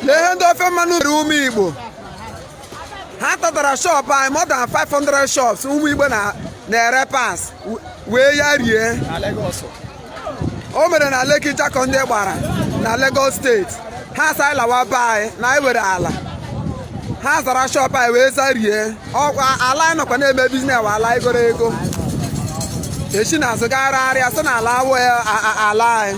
lee ihe ndị ofe mmanụ mere ụmụ igbo ha tatara shop anyị more than 500 shops ụmụ igbo na-ere parts wee ya rie o mere na Lekki Jakande Gbara na Lagos steeti ha sị anyị lawa be anyị na anyị were ala ha zara shop anyị wee zarie ọkwa ala anyị nọkwa na-eme business wụ ala i goro ego e shi n'azụ gagharịa sị na ala awụ ala anyị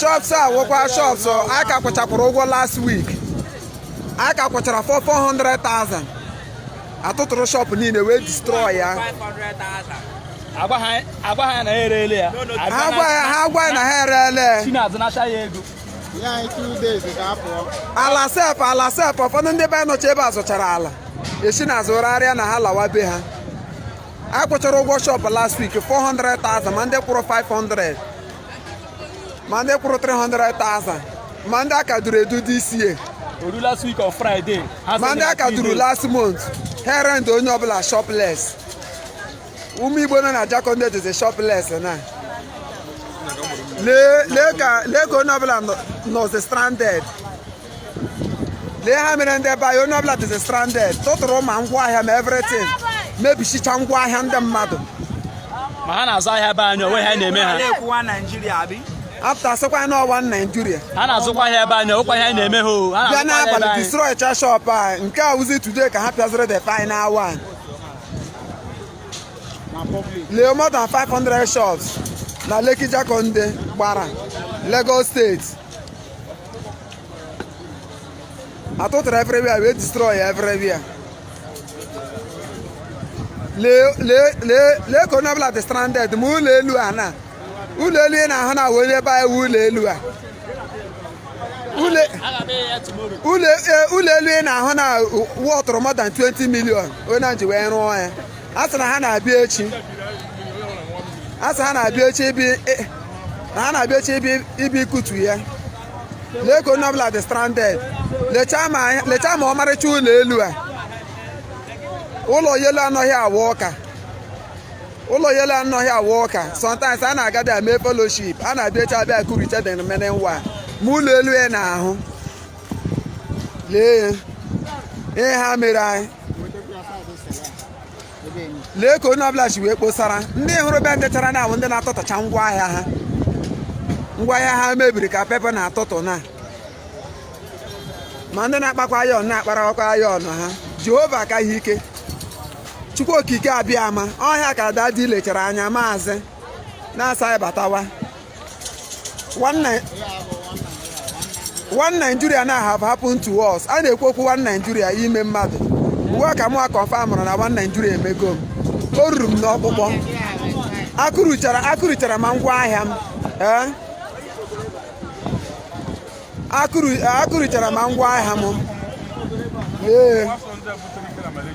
shops a wụkwa shops anyị ka kwụchakwara ụgwọ last week anyị ka kwụchara 400,000 a tụtụrụ shop niile wee destroy ya agwa ha agwa ha na ha ereele ya ha gwa ya ha gwa ya na ha ereele shi n'azụ nacha ya ego nye anyị two days ka a pụọ. ala sef ala sef ụfọdụ ndị be anyị nọcha ebe a zụchara ala e si n'azụ gharịa na ha lawa be ha a kwụchara ụgwọ shop last week 400,000 ma ndị kwụrụ 500 ma ndị kwụrụ 300,000 ma ndị aka duru edu this year oru last week on friday ma ndị aka duru last month ha rent onye ọbụla shopless ụmụ igbo nọ na Jakande dịzi shopless na lee ka onye ọbụla nọzi stranded lee ha mere ndị be anyị onye ọbụla dịzi stranded tụtụrụ ma ngwa ahịa ma everything mebishicha ngwa ahịa ndị mmadụ ma ha na-azụ ahịa be anyị o nwe ihe a na-eme ha apụta sịkwa na ọ one Nigeria ha na-azụkwa ahịa be anyị o nwekwa ihe anyị na-eme ha bịa n'abalị destroy cha shop anyị nke a wụzi today ka ha pịaziri the final one lee more than 500 shops na Lekki Jakande Gbara Lagos steeti a tụtụrụ everywhere wee destroy everywhere lee lee lee lee ka onye ọbụla dị stranded ma ụlọ elu a na ụlọ elu ị na-ahụ na onye be anyị ụlọ elu a ụlọ elu ị na-ahụ na wọtụrụ more than 20 million onye ji wee rụọ ya a sị na ha na-abịa echi a sị ha na-abịa echi ịbịa na ha na-abịa echi ịbịa ịbịa ikutu ya lee ka onye ọbụla dị stranded lechaa ma lechaa ma ọmarịcha ụlọ elu a ụlọ elu anọghị a wụ ụka ụlọ elu anọghị a wụ ụka sometimes a na-agadị eme fellowship ha na-abịa echi ịbịa kuricha the remaining one ma ụlọ elu a ị na-ahụ lee ihe ha mere anyị lee ka onye ọbụla si wee kpọsara ndị ị hụrụ bendịchara na awụ ndị na-atụtụcha ngwa ahịa ha ngwa ahịa ha mebiri ka pepa na-atụtụ na ma ndị na-akpakwa ayọn na-akparakwa ayọn ha Jehova ka ha ike chukwu okike abịama ọ ihe a ka dadi lechara anya maazị na-asị anyị batawa one Nigeria na have happened to us a na-ekwu okwu one Nigeria ime mmadụ ugbu a ka mụwa confamrụ na one Nigeria emego m o ruru m n'ọkpụkpụ akụrụchara ma ngwa ahịa m ee eh? akụrụchara ma ngwa ahịa m ee eh?